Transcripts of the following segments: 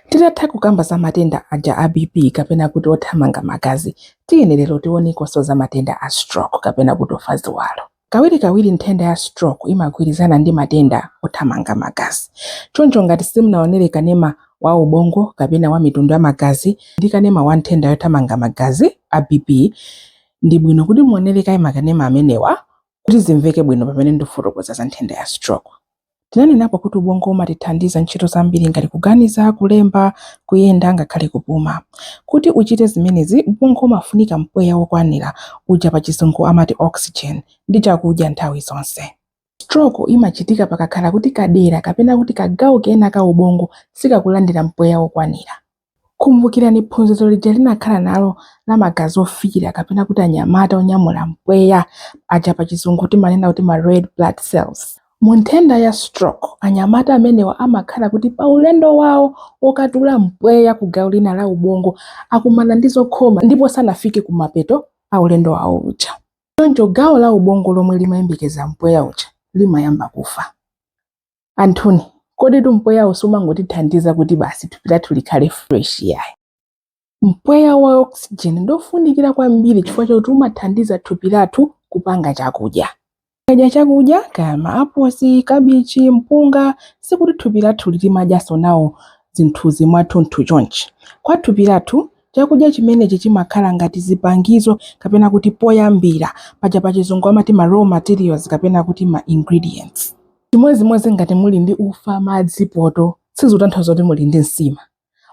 Titatha kukamba za matenda aja a BP kapena kuti othamanga magazi, tiyeni lero tiwonekonso za matenda a stroke kapena kuti ofa ziwalo. Kawirikawiri nthenda ya stroke imagwirizana ndi matenda othamanga magazi. Choncho ngati simunaonere kanema wa ubongo kapena wa mitundu ya magazi ndi kanema wa nthenda yothamanga magazi a BP, ndi bwino kuti muonere kaye makanema amenewa kuti zimveke bwino pamene ndifotokoza za nthenda ya stroke. Tinanenapo kuti ubongo umatithandiza ntchito zambiri ngati kuganiza, kulemba, kuyenda ngakhale kupuma. Kuti uchite zimenezi, ubongo umafunika mpweya wokwanira, uja pachizungu amati oxygen, ndi chakudya nthawi zonse. Stroke imachitika pakakhala kuti kadera kapena kuti kagawo kena ka ubongo sikakulandira mpweya wokwanira. Kumbukirani phunziro lija tinakhala nalo la magazi ofiira kapena kuti anyamata onyamula mpweya aja pa chizungu timanena kuti ma red blood cells. Mu nthenda ya stroke, anyamata amenewa amakhala kuti pa ulendo wawo wokatuula mpweya ku gawo lina la ubongo akumana ndi zokhoma ndipo sanafike ku mapeto a ulendo wawo uja. Choncho gawo la ubongo lomwe limayembekeza mpweya uja limayamba kufa. anthuni komatu mpweyawu siumangotithandiza kuti basi thupi lathu likhale fresh yayi mpweya wa oxygen ndofunikira kwambiri chifukwa chakuti umathandiza thupi lathu kupanga chakudya tikadya chakudya kaya maaposi kabichi mpunga sikuti thupi lathu limadyanso nawo zinthuzi mwathunthu chonchi kwa thupi lathu chakudya chimenechi chimakhala ngati zipangizo kapena kuti poyambira paja pachizungu amati ma raw materials kapena kuti ma ingredients Chimodzimodzi ngati muli ndi ufa, madzi, poto, sizitanthauza kuti muli ndi nsima.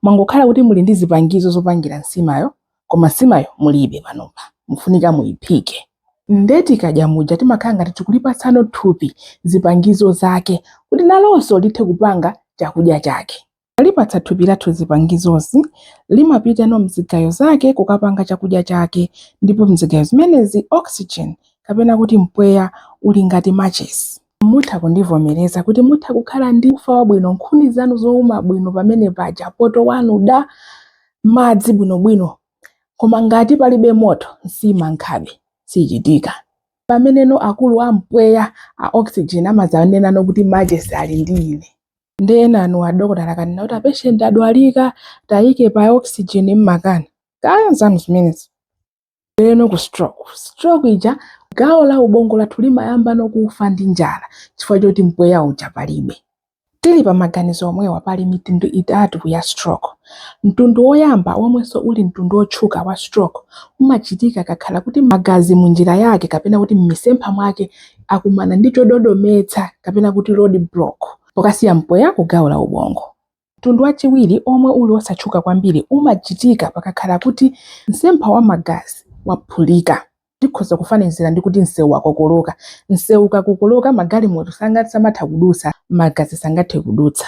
Mwangokhala kuti muli ndi zipangizo zopangira nsimayo koma nsimayo mulibe panopa, mufunika muiphike. Nde tikadya muja timakhala ngati tikulipatsano thupi zipangizo zake kuti nalonso lithe kupanga chakudya chake. Tikalipatsa thupi lathu zipangizozi, limapitano m'zigayo zake kukapanga chakudya chake, ndipo m'zigayo zimenezi oxygen, kapena kuti mpweya, uli ngati machesi. Mutha kundivomereza kuti mutha kukhala ndi ufa wabwino, nkhuni zanu zouma bwino pamene paja, poto wanu da, madzi bwinobwino, koma ngati palibe moto, nsima nkhabe sichitika. Pameneno akulu a mpweya, a oxygen, amadzanenano kuti machesi ali ndi ine. nde enanu adokotala akanena kuti apeshenti adwalika tiwayike pa oxygen mumakana kaya zanu zimenezo ndiyeno ku stroke stroke ija gawo la ubongo lathu limayambano kufa ndi njala chifukwa chokuti mpweya uja palibe tili pa maganizo omwewa pali mitundu itatu ya stroke mtundu woyamba womwenso uli mtundu wotchuka wa stroke umachitika kukakhala kuti magazi mu njira yake kapena kuti mmisempha mwake akumana ndi chododometsa kapena kuti road block pokasiya mpweya ku gawo la ubongo. Mtundu wachiwiri omwe uli osatchuka kwambiri umachitika pakakhala kuti msempha wa magazi waphulika. Tikhoza kufanizira ndi kuti msewu wakokoloka. Msewu ukakokoloka magalimoto sangathe samatha kudutsa, magazi sangathe kudutsa.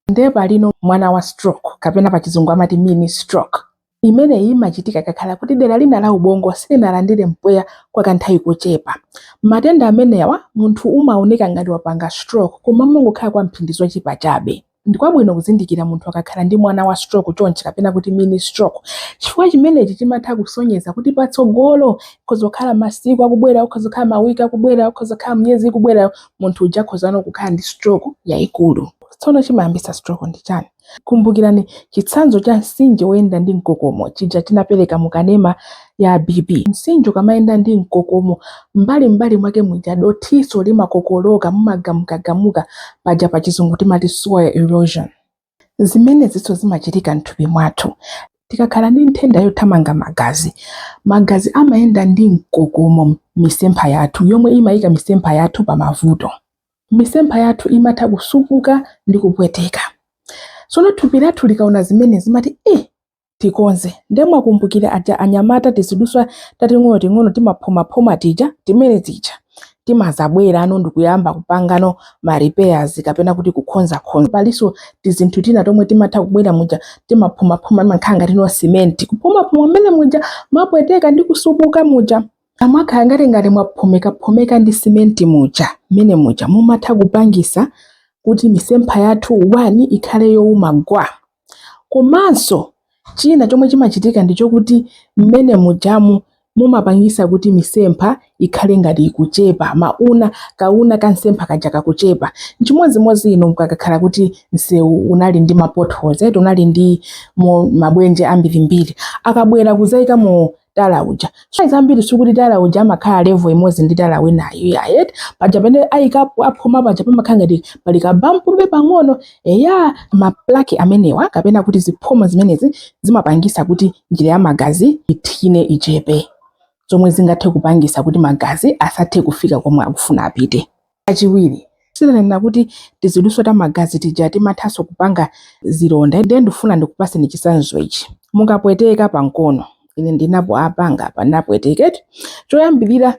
nde palino mwana wa stroke kapena pachizungu amati mini stroke imeneyi imachitika pakakhala kuti dera lina la ubongo silinalandire mpweya kwa kanthawi kochepa matenda amenewa munthu umaoneka ngati wapanga stroke koma nkungokhala kwa mphindi zochepa chabe ndikwabwino kuzindikira munthu akakhala ndi mwana wa stroke chonchi kapena kuti mini stroke chifukwa chimenechi chimatha kusonyeza kuti patsogolo kutha kukhala masiku akubwerawo khozokhala mawiki akubwerawo khozokhala miyezi ikubwerayo munthu uja khozano kukhala ndi stroke yaikulu Tsono chimayambitsa stroke ndi chani? Kumbukirani chitsanzo cha mtsinje woyenda ndi mkokomo chija tinapereka mu kanema ya BP. Mtsinje ukamayenda ndi mkokomo, m'mbali m'mbali mwake muja dothinso limakokoloka, mumagamukagamuka, paja pa chizungu timati soil erosion. Zimenezinso zimachitika m'thupi mwathu. Tikakhala ndi nthenda yothamanga magazi, magazi amayenda ndi mkokomo m'misempha yathu yomwe imayika misempha yathu pa mavuto. misempha yathu imatha kusupuka ndi kupweteka. Tsono thupi lathu likaona zimenezi zimati ih tikonze nde mwakumbukira aja anyamata tizidutswa tating'onoting'ono timaphomaphoma tija timene tija timazabwerano ndikuyamba kupangano ma repairs kapena kuti kukonzakonza palinso tizinthu tina tomwe timatha kubwera muja timaphomaphoma timakhala ngatino simenti kuphomaphoma mmene muja mwapweteka ndi kusupuka muja Amakhala ngati ngati mwaphomekaphomeka ndi simenti muja mmene muja mumatha kupangisa kuti misempha yathu 1 ikhale youma gwa komanso china chomwe chimachitika ndi chokuti mmene mujamu mumapangisa kuti misempha ikhale ngati ikuchepa mauna kauna ka msempha kaja kakuchepa nchimodzimodzi inu mukakhala kuti msewu unali ndi mapotholes eti unali ndi maenje ambirimbiri akabwera kuzaikamo tala uja so zambiri sikuti tala uja amakhala level imodzi ndi tala winayo ayi eti paja pamene ayikapo aphoma paja pamakhala ngati pali kabampu pang'ono eya maplaki amenewa kapena kuti ziphoma zimenezi zimapangisa kuti njira ya magazi ithine ichepe zomwe zingathe kupangisa kuti magazi asathe kufika komwe akufuna apite Kachiwiri, si ndinanena kuti tizidutswa ta magazi tija timathanso kupanga zilonda. Ndiye ndifuna ndikupatseni chitsanzo ichi. Mukapweteka pa mkono, ine ndinapangapo apa ndinapweteka eti. Choyambirira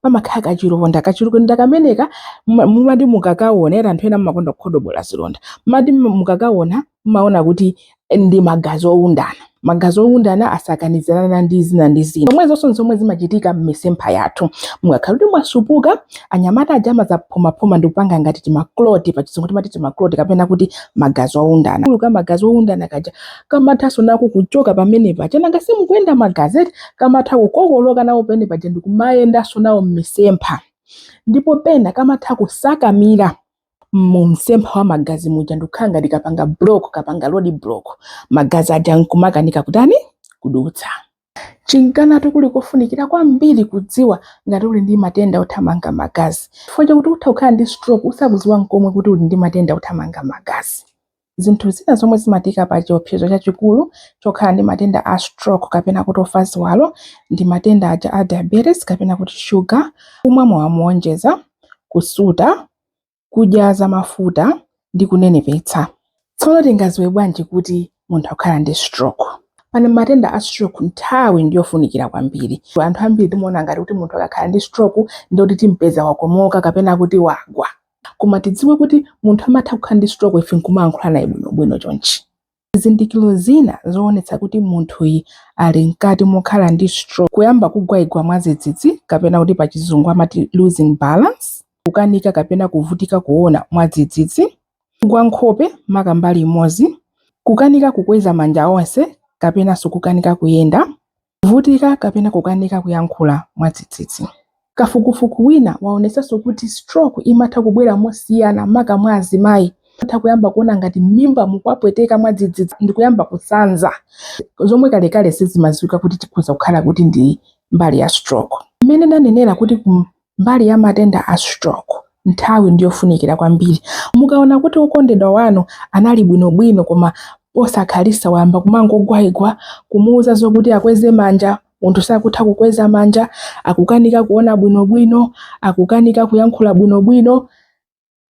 pamakhala kachilonda. Kachilonda kameneka muma- mumati mukakaona eti anthu ena mumakonda kukodobola zilonda. Mumati mukakaona mumaona kuti ndi magazi owundana magazi owundana asakanizirana ndi zina ndi zina zomwe zonsezo nzomwe zimachitika m'misempha yathu mukakhala kuti mwasupuka anyamata aja amazaphomapoma ndi kupanga ngati timakloti pa chizungu timati timakloti kapena kuti magazi owundana kagulu ka magazi owundana kaja kamathanso nako kuchoka pamene paja nanga simukuyenda magazi eti kamatha kukokoloka nawo pamene paja ndikumayendanso nawo m'misempha ndipo pena kamatha kusakamira mu msempha wa magazi muja ndikukhala ngati kapanga block kapanga road block magazi aja nkumakanika kutani kudutsa chinkana kuli kofunikira kwambiri kudziwa ngati uli ndi matenda othamanga magazi chifukwa chakuti utha kukhala ndi stroke usakudziwa nkomwe kuti uli ndi matenda othamanga magazi Zinthu zina zomwe zimatiika pa chiopsezo chachikulu chokhala ndi matenda a stroke kapena kuti ofa ziwalo ndi matenda aja a diabetes kapena kuti shuga, kumwa mowa moonjeza, kusuta, kudya zamafuta ndi kunenepetsa. Tsono tingadziwe bwanji kuti munthu akukhala ndi stroke? Pa matenda a stroke nthawi ndi yofunikira kwambiri. Anthu ambiri timaona ngati kuti munthu akakhala ndi stroke ndiye kuti timpeza wakomoka kapena kuti wagwa. koma tidziwe kuti munthu amatha kukhala ndi stroke ife nkumayankhula naye bwinobwino chonchi zizindikiro zina zoonetsa kuti munthuyi ali mkati mokhala ndi stroke kuyamba kugwaigwa mwadzidzidzi kapena kuti pa chizungu amati losing balance kukanika kapena kuvutika kuona mwadzidzidzi kugwa nkhope maka mbali imodzi kukanika kukweza manja onse kapenanso kukanika kuyenda Kuvutika kapena kukanika kuyankhula mwadzidzidzi. Kafukufuku wina waonetsanso kuti stroke imatha kubwera mosiyana maka mwa azimayi. Atha kuyamba kuona ngati m'mimba mukuwapweteka mwadzidzidzi ndikuyamba kusanza, zomwe kalekale sizimadziwika kuti chikhoza kukhala kuti ndi mbali ya stroke. Mmene ndanenera kuti ku. mbali ya matenda a stroke, nthawi ndi yofunikira kwambiri. Mukaona kuti wokondedwa wanu anali bwinobwino koma posakhalitsa wayamba kumangogwaigwa, kumuuza zokuti akweze manja, munthu sakutha kukweza manja, akukanika kuona bwinobwino, akukanika kuyankhula bwinobwino,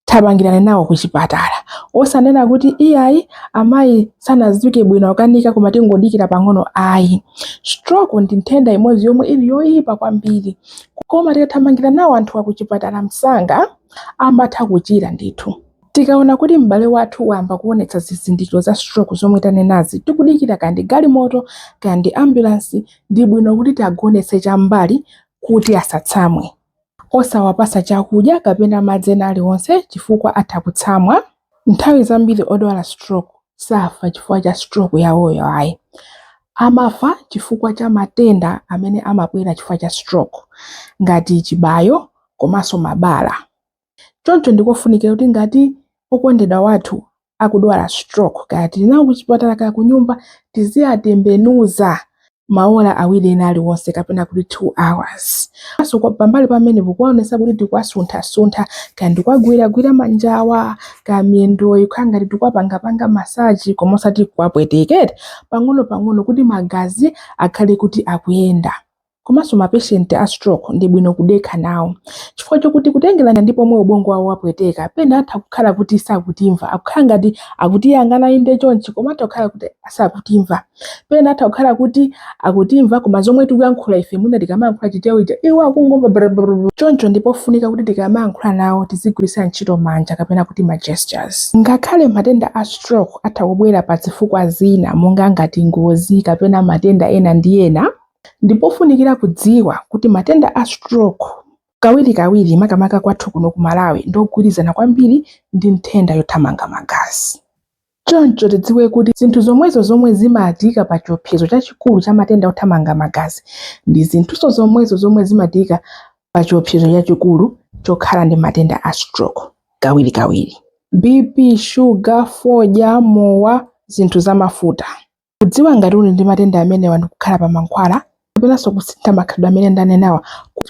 thamangirani nawo ku chipatala osanena kuti iyayi amayi sanadzuke bwino akanika koma tingodikira pang'ono ayi stroke ndi nthenda imodzi yomwe ili yoyipa kwambiri koma tikathamangira nawo anthuwa ku chipatala msanga amatha kuchira ndithu tikaona kuti m'bale wathu wayamba kuonetsa zizindikiro za stroke zomwe tanenazi tikudikira kandi galimoto kandi ambulansi ndi bwino kuti tiagonetse chambali kuti asatsamwe Osawapatsa chakudya kapena madzi ena aliwonse chifukwa atha kutsamwa. Nthawi zambiri odwala stroke safa chifukwa cha stroke yawoyo ayi. Amafa chifukwa cha matenda amene amabwera chifukwa cha stroke ngati chibayo komanso mabala. Choncho ndikofunikira kuti ngati okondedwa wathu akudwala stroke kaya tili nawo kuchipatala kaya kunyumba tiziwatembenuza maola awiri ena aliwonse kapena kuti 2 hours. So pambali pamenepo kuonetsetsa kuti tikuwasunthasuntha kaya ndikuwagwiragwira manjawa kaya miyendoyi kukhala ngati tikuwapangapanga masaji koma osati kuwapweteka eti pang'onopang'ono kuti magazi akhale kuti akuyenda. komanso mapeshenti a stroke ndi bwino kudekha nawo chifukwa chokuti kutengerana ndi pomwe ubongo wawo wapweteka pena atha kukhala kuti sakutimva akukhala ngati akutiyang'ana inde chonchi koma atha kukhala kuti sakutimva pena atha kukhala kuti akutimva koma zomwe tikuyankhula ife mwina tikamayankhula Chichewa chija iwo akungomva brrrr. choncho ndi pofunika kuti tikamayankhula nawo tizigwiritsa ntchito manja kapena kuti ma gestures ngakhale matenda a stroke atha kubwera pa zifukwa zina monga ngati ngozi kapena matenda ena ndi ena Ndipofunikira kudziwa kuti matenda a stroke kawirikawiri makamaka kwathu kuno ku Malawi ndi ogwirizana kwambiri ndi nthenda yothamanga magazi. Choncho tidziwe kuti zinthu zomwezo zomwe zimatiyika pa chiopsezo chachikulu cha matenda othamanga magazi ndi zinthunso zomwezo zomwe zimatiyika pa chiopsezo chachikulu chokhala ndi matenda a stroke kawirikawiri. BP, shuga, fodya, mowa, zinthu zamafuta. Kudziwa ngati tili ndi matenda amenewa ndi kukhala pa mankhwala kapenanso kusintha makhalidwe amene ndanenawa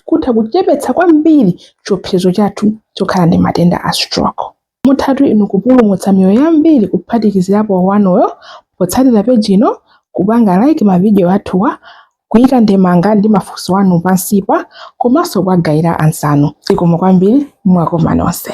kutha kuchepetsa kwambiri chiopsezo chathu chokhala ndi matenda a stroke. Muthatu inu kupulumutsa miyoyo yambiri kuphatikizirapo wanuyo potsatira peji ino, kupanga like mavidiyo athuwa, kuika ndemanga ndi mafunso anu pansipa komanso kuwagawira anzanu. Zikomo kwambiri, mwakoma nonse.